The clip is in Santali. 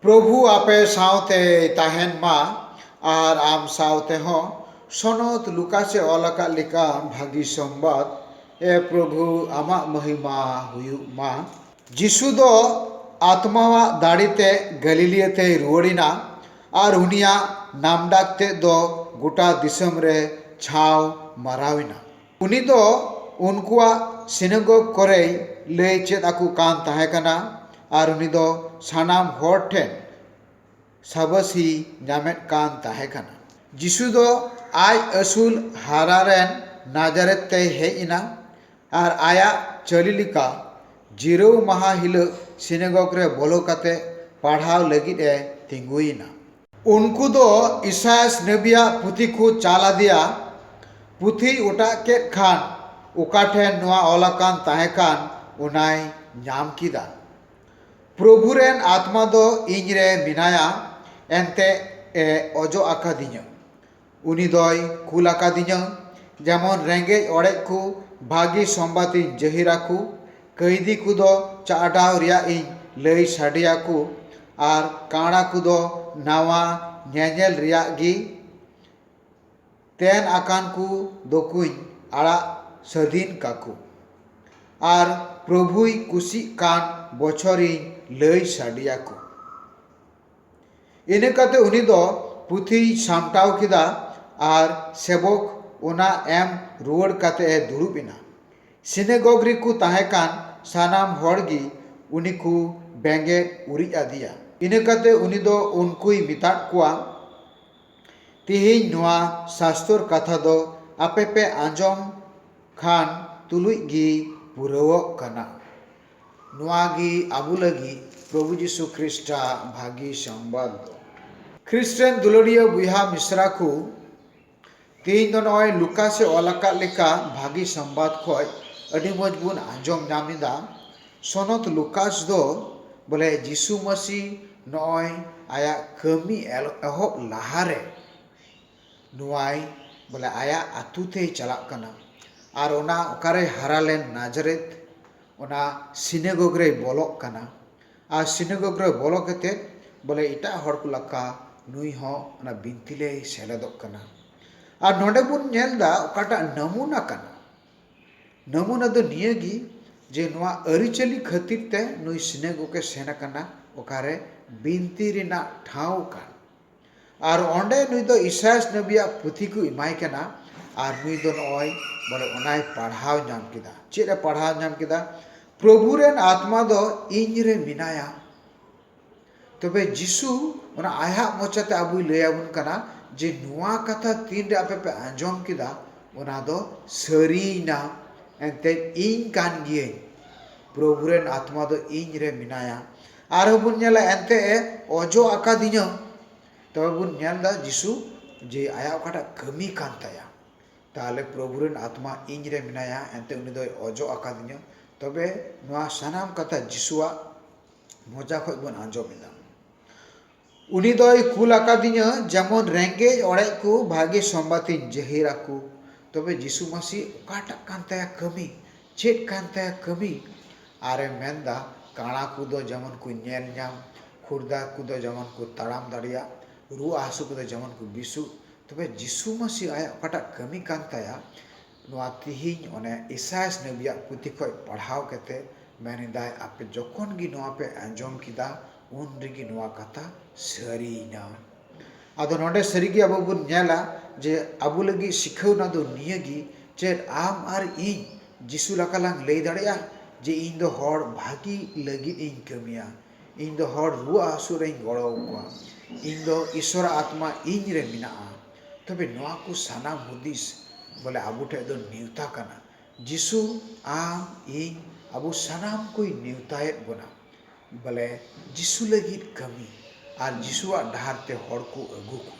ᱯᱨᱚᱵᱷᱩ ᱟᱯᱮ ᱥᱟᱶᱛᱮᱭ ᱛᱟᱦᱮᱸᱱ ᱢᱟ ᱟᱨ ᱟᱢ ᱥᱟᱶᱛᱮ ᱦᱚᱸ᱾ ᱥᱚᱱᱚᱛ ᱞᱩᱠᱟᱥ ᱮ ᱚᱞ ᱟᱠᱟᱫ ᱞᱮᱠᱟ ᱵᱷᱟᱹᱜᱤ ᱥᱚᱢᱵᱟᱫᱽ᱾ ᱮ ᱯᱨᱚᱵᱷᱩ ᱟᱢᱟᱜ ᱢᱚᱦᱤᱢᱟ ᱦᱩᱭᱩᱜ ᱢᱟ᱾ ᱡᱤᱥᱩ ᱫᱚ ᱟᱛᱢᱟᱣᱟᱜ ᱫᱟᱲᱮ ᱛᱮ ᱜᱟᱞᱤᱞᱤᱭᱟᱹ ᱛᱮᱭ ᱨᱩᱣᱟᱹᱲ ᱮᱱᱟ ᱟᱨ ᱩᱱᱤᱭᱟᱜ ᱱᱟᱢᱰᱟᱠ ᱛᱮᱫ ᱫᱚ ᱜᱚᱴᱟ ᱫᱤᱥᱚᱢ ᱨᱮ ᱪᱷᱟᱣ ᱢᱟᱨᱟᱣ ᱮᱱᱟ᱾ ᱩᱱᱤ ᱫᱚ ᱩᱱᱠᱩᱣᱟᱜ ᱥᱤᱱᱟᱜᱚᱜᱽ ᱠᱚᱨᱮᱭ ᱞᱟᱹᱭ ᱪᱮᱫ ᱟᱠᱚ ᱠᱟᱱ ᱛᱟᱦᱮᱸ ᱠᱟᱱᱟ ᱟᱨ ᱩᱱᱤ ᱫᱚ ᱥᱟᱱᱟᱢ ᱦᱚᱲ ᱴᱷᱮᱱ ᱥᱟᱵᱟᱹᱥᱤᱭ ᱧᱟᱢᱮᱫ ᱠᱟᱱ ᱛᱟᱦᱮᱸ ᱠᱟᱱᱟ᱾ ᱡᱤᱥᱩ ᱫᱚ ᱟᱡ ᱟᱹᱥᱩᱞ ᱦᱟᱨᱟ ᱨᱮᱱ ᱱᱟᱡᱟᱨᱮᱛ ᱛᱮᱭ ᱦᱮᱡ ᱮᱱᱟ ᱟᱨ ᱟᱭᱟᱜ ᱪᱟᱹᱞᱤ ᱞᱮᱠᱟ ᱡᱤᱨᱟᱹᱣ ᱢᱟᱦᱟ ᱦᱤᱞᱟᱹᱜ ᱥᱤᱱᱟᱜᱚᱜᱽ ᱨᱮ ᱵᱚᱞᱚ ᱠᱟᱛᱮ ᱯᱟᱲᱦᱟᱣ ᱞᱟᱹᱜᱤᱫ ᱮ ᱛᱤᱸᱜᱩᱭᱮᱱᱟ᱾ ᱩᱱᱠᱩ ᱫᱚ ᱤᱥᱟᱭᱟᱥ ᱱᱟᱵᱤᱭᱟᱜ ᱯᱩᱛᱷᱤ ᱠᱚ ᱪᱟᱞ ᱟᱫᱮᱭᱟ᱾ ᱯᱩᱛᱷᱤᱭ ᱚᱴᱟᱜ ᱠᱮᱫ ᱠᱷᱟᱱ ᱚᱠᱟ ᱴᱷᱮᱱ ᱱᱚᱶᱟ ᱚᱞ ᱟᱠᱟᱱ ᱛᱟᱦᱮᱸ ᱠᱟᱱ ᱚᱱᱟᱭ ᱧᱟᱢ ᱠᱮᱫᱟ, ᱯᱨᱚᱵᱷᱩ ᱨᱮᱱ ᱟᱛᱢᱟ ᱫᱚ ᱤᱧ ᱨᱮ ᱢᱮᱱᱟᱭᱟ ᱮᱱᱛᱮ ᱮ ᱚᱡᱚᱜ ᱟᱠᱟᱫᱤᱧᱟ᱾ ᱩᱱᱤ ᱫᱚᱭ ᱠᱩᱞ ᱟᱠᱟᱫᱤᱧᱟᱹ ᱡᱮᱢᱚᱱ ᱨᱮᱸᱜᱮᱡ ᱚᱲᱮᱡ ᱠᱚ ᱵᱷᱟᱹᱜᱤ ᱥᱚᱢᱵᱟᱫᱽ ᱤᱧ ᱡᱟᱹᱦᱤᱨ ᱟᱠᱚ ᱠᱟᱹᱭᱫᱷᱤ ᱠᱚᱫᱚ ᱪᱟᱦᱰᱟᱣ ᱨᱮᱭᱟᱜ ᱤᱧ ᱞᱟᱹᱭ ᱥᱟᱰᱮ ᱟᱠᱚ ᱟᱨ ᱠᱟᱬᱟ ᱠᱚᱫᱚ ᱱᱟᱣᱟ ᱧᱮᱧᱮᱞ ᱨᱮᱭᱟᱜ ᱜᱮ ᱛᱮᱱ ᱟᱠᱟᱱ ᱠᱚ ᱫᱚᱠᱚᱧ ᱟᱲᱟᱜ ᱥᱟᱹᱫᱷᱤᱱ ᱠᱟᱠᱚ ᱟᱨ ᱯᱨᱚᱵᱷᱩᱭ ᱠᱩᱥᱤᱜ ᱠᱟᱱ ᱵᱚᱪᱷᱚᱨ ᱤᱧ ᱞᱟᱹᱭ ᱥᱟᱰᱮ ᱟᱠᱚ ᱤᱱᱟᱹ ᱠᱟᱛᱮ ᱩᱱᱤ ᱫᱚ ᱯᱩᱛᱷᱤᱭ ᱥᱟᱢᱴᱟᱣ ᱠᱮᱫᱟ ᱟᱨ ᱥᱮᱵᱚᱠ ᱚᱱᱟ ᱮᱢ ᱨᱩᱣᱟᱹᱲ ᱠᱟᱛᱮ ᱮ ᱫᱩᱲᱩᱵ ᱮᱱᱟ᱾ ᱥᱤᱱᱮᱜᱚᱜᱽ ᱨᱮᱠᱚ ᱛᱟᱦᱮᱸ ᱠᱟᱱ ᱥᱟᱱᱟᱢ ᱦᱚᱲ ᱜᱮ ᱩᱱᱤ ᱠᱚ ᱵᱮᱸᱜᱮᱫ ᱩᱨᱤᱡ ᱟᱫᱮᱭᱟ᱾ ᱤᱱᱟᱹ ᱠᱟᱛᱮ ᱩᱱᱤ ᱫᱚ ᱩᱱᱠᱩᱭ ᱢᱮᱛᱟᱫ ᱠᱚᱣᱟ, ᱛᱮᱦᱮᱧ ᱱᱚᱶᱟ ᱥᱟᱥᱛᱚᱨ ᱠᱟᱛᱷᱟ ᱫᱚ ᱟᱯᱮ ᱯᱮ ᱟᱸᱡᱚᱢ ᱠᱷᱟᱱ ᱛᱩᱞᱩᱡ ᱜᱮ ᱯᱩᱨᱟᱹᱣᱜ ᱠᱟᱱᱟ᱾ ᱱᱚᱣᱟ ᱜᱮ ᱟᱵᱚ ᱞᱟᱹᱜᱤᱫ ᱯᱨᱚᱵᱷᱩ ᱡᱤᱥᱩ ᱠᱷᱨᱤᱥᱴ ᱟᱜ ᱵᱷᱟᱹᱜᱤ ᱥᱚᱝᱵᱟᱫᱽ ᱫᱚ᱾ ᱠᱷᱨᱤᱥᱴ ᱨᱮᱱ ᱫᱩᱞᱟᱹᱲᱤᱭᱟᱹ ᱵᱚᱭᱦᱟ ᱢᱤᱥᱨᱟ ᱠᱚ, ᱛᱮᱦᱮᱧ ᱫᱚ ᱱᱚᱜᱼᱚᱭ ᱞᱩᱠᱟᱥ ᱮ ᱚᱞ ᱟᱠᱟᱫ ᱞᱮᱠᱟ ᱵᱷᱟᱹᱜᱤ ᱥᱚᱝᱵᱟᱫᱽ ᱠᱷᱚᱱ ᱟᱹᱰᱤ ᱢᱚᱡᱽ ᱵᱚᱱ ᱟᱸᱡᱚᱢ ᱧᱟᱢ ᱮᱫᱟ᱾ ᱥᱚᱱᱚᱛ ᱞᱩᱠᱟᱥ ᱫᱚ ᱵᱚᱞᱮ ᱡᱤᱥᱩ ᱢᱟᱹᱥᱤ ᱱᱚᱜᱼᱚᱭ ᱟᱭᱟᱜ ᱠᱟᱹᱢᱤ ᱮᱦᱚᱵ ᱞᱟᱦᱟ ᱨᱮ ᱱᱚᱣᱟᱭ ᱵᱚᱞᱮ ᱟᱭᱟᱜ ᱟᱹᱛᱩ ᱛᱮᱭ ᱪᱟᱞᱟᱜ ᱠᱟᱱᱟ ᱟᱨ ᱚᱱᱟ ᱚᱠᱟᱨᱮᱭ ᱦᱟᱨᱟ ᱞᱮᱱ ᱱᱟᱡᱽᱨᱮᱛ ᱚᱱᱟ ᱥᱤᱱᱮᱜᱚᱜᱽ ᱨᱮᱭ ᱵᱚᱞᱚᱜ ᱠᱟᱱᱟ ᱟᱨ ᱥᱤᱱᱮᱜᱚᱜᱽ ᱨᱮ ᱵᱚᱞᱚ ᱠᱟᱛᱮᱫ ᱵᱚᱞᱮ ᱮᱴᱟᱜ ᱦᱚᱲ ᱠᱚ ᱞᱮᱠᱟ ᱱᱩᱭ ᱦᱚᱸ ᱚᱱᱟ ᱵᱤᱱᱛᱤ ᱨᱮᱭ ᱥᱮᱞᱮᱫᱚᱜ ᱠᱟᱱᱟ ᱟᱨ ᱱᱚᱰᱮ ᱵᱚᱱ ᱧᱮᱞ ᱮᱫᱟ ᱚᱠᱟᱴᱟᱜ ᱱᱟᱢᱩᱱᱟ ᱠᱟᱱᱟ ᱱᱟᱢᱩᱱᱟ ᱫᱚ ᱱᱤᱭᱟᱹ ᱜᱮ ᱡᱮ ᱱᱚᱣᱟ ᱟᱹᱨᱤᱪᱟᱹᱞᱤ ᱠᱷᱟᱹᱛᱤᱨ ᱛᱮ ᱱᱩᱭ ᱥᱤᱱᱮᱜᱚᱜᱽ ᱮ ᱥᱮᱱ ᱟᱠᱟᱱᱟ ᱚᱠᱟᱨᱮ ᱵᱤᱱᱛᱤ ᱨᱮᱱᱟᱜ ᱴᱷᱟᱶ ᱠᱟᱱ ᱟᱨ ᱚᱸᱰᱮ ᱱᱩᱭ ᱫᱚ ᱤᱥᱟᱭᱟᱥ ᱱᱚᱵᱤᱭᱟᱜ ᱯᱩᱛᱷᱤ ᱠᱚ ᱮᱢᱟᱭ ᱠᱟᱱᱟ ᱟᱨ ᱱᱩᱭ ᱫᱚ ᱱᱚᱜᱼᱚᱭ ᱵᱚᱞᱮ ᱚᱱᱟᱭ ᱯᱟᱲᱦᱟᱣ ᱧᱟᱢ ᱠᱮᱫᱟ ᱪᱮᱫ ᱮ ᱯᱟᱲᱦᱟᱣ ᱧᱟᱢ ᱠᱮᱫᱟ ᱯᱨᱚᱵᱷᱩ ᱨᱮᱱ ᱟᱛᱢᱟ ᱫᱚ ᱤᱧ ᱨᱮ ᱢᱮᱱᱟᱭᱟ ᱛᱚᱵᱮ ᱡᱤᱥᱩ ᱚᱱᱟ ᱟᱭᱟᱜ ᱢᱚᱪᱟᱛᱮ ᱟᱵᱚᱭ ᱞᱟᱹᱭ ᱟᱵᱚᱱ ᱠᱟᱱᱟ ᱡᱮ ᱱᱚᱣᱟ ᱠᱟᱛᱷᱟ ᱛᱤᱱᱨᱮ ᱟᱯᱮ ᱯᱮ ᱟᱸᱡᱚᱢ ᱠᱮᱫᱟ ᱚᱱᱟ ᱫᱚ ᱥᱟᱹᱨᱤᱭᱮᱱᱟ ᱮᱱᱛᱮᱫ ᱤᱧ ᱠᱟᱱ ᱜᱤᱭᱟᱹᱧ ᱯᱨᱚᱵᱷᱩ ᱨᱮᱱ ᱟᱛᱢᱟ ᱫᱚ ᱤᱧ ᱨᱮ ᱢᱮᱱᱟᱭᱟ ᱟᱨᱦᱚᱸ ᱵᱚᱱ ᱧᱮᱞᱟ ᱮᱱᱛᱮ ᱮ ᱚᱡᱚᱜ ᱟᱠᱟᱫᱤᱧᱟᱹ ᱛᱚᱵᱮ ᱵᱚᱱ ᱧᱮᱞ ᱮᱫᱟ ᱡᱤᱥᱩ ᱡᱮ ᱟᱭᱟᱜ ᱚᱠᱟᱴᱟᱜ ᱠᱟᱹᱢᱤ ᱠᱟᱱ ᱛᱟᱭᱟ ᱛᱟᱦᱚᱞᱮ ᱯᱨᱚᱵᱷᱩ ᱨᱮᱱ ᱟᱛᱢᱟ ᱤᱧ ᱨᱮ ᱢᱮᱱᱟᱭᱟ ᱮᱱᱛᱮ ᱩᱱᱤ ᱫᱚᱭ ᱚᱡᱚᱜ ᱟᱠᱟᱫᱤᱧᱟᱹ ᱛᱚᱵᱮ ᱱᱚᱶᱟ ᱥᱟᱱᱟᱢ ᱠᱟᱛᱷᱟ ᱡᱤᱥᱩᱣᱟᱜ ᱢᱚᱪᱟ ᱠᱷᱚᱱ ᱵᱚᱱ ᱟᱸᱡᱚᱢ ᱮᱫᱟ ᱩᱱᱤ ᱫᱚᱭ ᱠᱩᱞ ᱟᱠᱟᱫᱤᱧᱟᱹ ᱡᱮᱢᱚᱱ ᱨᱮᱸᱜᱮᱡ ᱚᱲᱮᱡ ᱠᱚ ᱵᱷᱟᱜᱮ ᱥᱚᱢᱵᱟᱫᱽ ᱤᱧ ᱡᱟᱹᱦᱤᱨ ᱟᱠᱚ ᱛᱚᱵᱮ ᱡᱤᱥᱩ ᱢᱟᱹᱥᱤ ᱚᱠᱟᱴᱟᱜ ᱠᱟᱱ ᱛᱟᱭᱟ ᱠᱟᱹᱢᱤ ᱪᱮᱫ ᱠᱟᱱ ᱛᱟᱭᱟ ᱠᱟᱹᱢᱤ ᱟᱨᱮ ᱢᱮᱱ ᱮᱫᱟ ᱠᱟᱬᱟ ᱠᱚᱫᱚ ᱡᱮᱢᱚᱱ ᱠᱚ ᱧᱮᱞ ᱧᱟᱢ ᱠᱷᱩᱲᱫᱟ ᱠᱚᱫᱚ ᱡᱮᱢᱚᱱ ᱠᱚ ᱛᱟᱲᱟᱢ ᱫᱟᱲᱮᱭᱟᱜ ᱨᱩᱣᱟᱹᱜ ᱦᱟᱹᱥᱩ ᱠᱚᱫᱚ ᱡᱮᱢᱚᱱ ᱠᱚ ᱵᱮᱥᱚᱜ ᱛᱚᱵᱮ ᱡᱤᱥᱩ ᱢᱟᱹᱥᱤ ᱟᱭᱟᱜ ᱚᱠᱟᱴᱟᱜ ᱠᱟᱹᱢᱤ ᱠᱟᱱ ᱛᱟᱭᱟ ᱱᱚᱣᱟ ᱛᱤᱦᱤᱧ ᱚᱱᱮ ᱤᱥᱟᱭᱟᱥ ᱱᱚᱵᱤᱭᱟᱜ ᱯᱩᱛᱷᱤ ᱠᱷᱚᱡ ᱯᱟᱲᱦᱟᱣ ᱠᱟᱛᱮ ᱢᱮᱱ ᱮᱫᱟᱭ ᱟᱯᱮ ᱡᱚᱠᱷᱚᱱ ᱜᱮ ᱱᱚᱣᱟ ᱯᱮ ᱟᱸᱡᱚᱢ ᱠᱮᱫᱟ ᱩᱱ ᱨᱮᱜᱮ ᱱᱚᱣᱟ ᱠᱟᱛᱷᱟ ᱥᱟᱹᱨᱤᱭᱮᱱᱟ ᱟᱫᱚ ᱱᱚᱰᱮ ᱥᱟᱹᱨᱤ ᱜᱮ ᱟᱵᱚ ᱵᱚᱱ ᱧᱮᱞᱟ ᱡᱮ ᱟᱵᱚ ᱞᱟᱹᱜᱤᱫ ᱥᱤᱠᱷᱟᱹᱣᱱᱟ ᱫᱚ ᱱᱤᱭᱟᱹ ᱜᱮ ᱪᱮᱫ ᱟᱢ ᱟᱨ ᱤᱧ ᱡᱤᱥᱩ ᱞᱮᱠᱟ ᱞᱟᱝ ᱞᱟᱹᱭ ᱫᱟᱲᱮᱭᱟᱜᱼᱟ ᱡᱮ ᱤᱧ ᱫᱚ ᱦᱚᱲ ᱵᱷᱟᱹᱜᱤ ᱞᱟᱹᱜᱤᱫ ᱤᱧ ᱠᱟᱹᱢᱤᱭᱟ ᱤᱧ ᱫᱚ ᱦᱚᱲ ᱨᱩᱣᱟᱹᱜ ᱦᱟᱹᱥᱩᱜ ᱨᱮᱧ ᱜᱚᱲᱚ ᱟᱠᱚᱣᱟ ᱤᱧ ᱫᱚ ᱤᱥᱚᱨᱟᱜ ᱟᱛᱢᱟ ᱤᱧ ᱨᱮ ᱢᱮᱱᱟᱜᱼᱟ ᱛᱚᱵᱮ ᱱᱚᱶᱟ ᱠᱚ ᱥᱟᱱᱟᱢ ᱦᱩᱫᱤᱥ ᱵᱚᱞᱮ ᱟᱵᱚ ᱴᱷᱮᱱ ᱫᱚ ᱱᱮᱣᱛᱟ ᱠᱟᱱᱟ ᱡᱤᱥᱩ ᱟᱢ ᱤᱧ ᱟᱵᱚ ᱥᱟᱱᱟᱢ ᱠᱚᱭ ᱱᱮᱣᱛᱟᱭᱮᱫ ᱵᱚᱱᱟ ᱵᱚᱞᱮ ᱡᱤᱥᱩ ᱞᱟᱹᱜᱤᱫ ᱠᱟᱹᱢᱤ ᱟᱨ ᱡᱤᱥᱩᱣᱟᱜ ᱰᱟᱦᱟᱨ ᱛᱮ ᱦᱚᱲ ᱠᱚ ᱟᱹᱜᱩ ᱠᱚᱢ